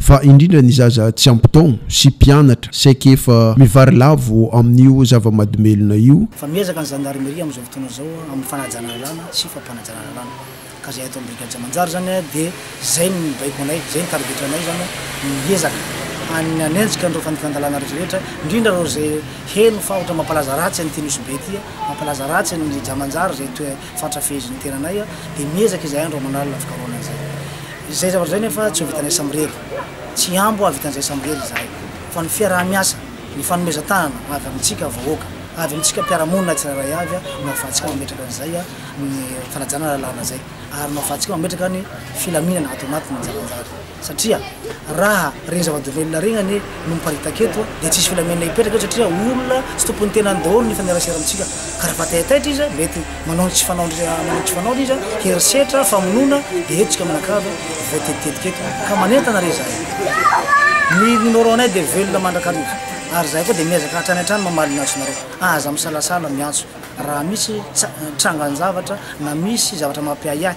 fa indrindra ny zaza tsy ampy taogno sy mpianatra saiky efa mivarilavo amin'io zava-madomelona io. Fa miezaka ny Zandarmeria amin'izao fotoana izao amin'ny fanajana lalàna sy fampanajana lalàna ka izay ataon'ny brigade tsy manjary izany dia izay no mibaiko anay, izay no tarigetranay izany ny hiezaka ny hanenjika an'ireo fandikan-dalàna rehetra rehetra indrindra ireo izay heno fa ohatra mampalaza ratsy an'ity Nosy Be ity, mampalaza ratsy an'i Jamanjary izay toe fatra fehezo ny tenanay dia miezaka izahay andro aman'alina hafikarohana an'izay. Izay zavatra izay nefa tsy ho vitanay samirery. Tsy hihambo hahavitan'izay samirery izahay. Fa ny fiaraha-miasa, ny fanomezan-tanana avy amintsika vahoaka, avy amintsika mpiara-monina tsirairay avy no ahafahantsika mametraka an'izay ny fanajana lalàna izay ary no ahafahantsika mametraka ny filaminana ato anatiny mijalinjaly. satria raha reny zava-domelina reny anie no miparitaka eto dia tsisy filaminana hipetraka eto satria olona tsy tompon'ny tenany daholo ny hifanerasera amintsika ka raha mataitaitra izy mety manao ny tsy fanaony manao ny tsy fanaony izy herisetra famonoana dia eto tsika manakavy voatetitetika eto ka manentana re zahay ny numéro anay dia velona mandrakariva ary zahay koa dia miezaka hatrany hatrany mamaly ny antsonareo aza misalasala miantso raha misy tsa- trangan-javatra na misy zavatra mampiahiahy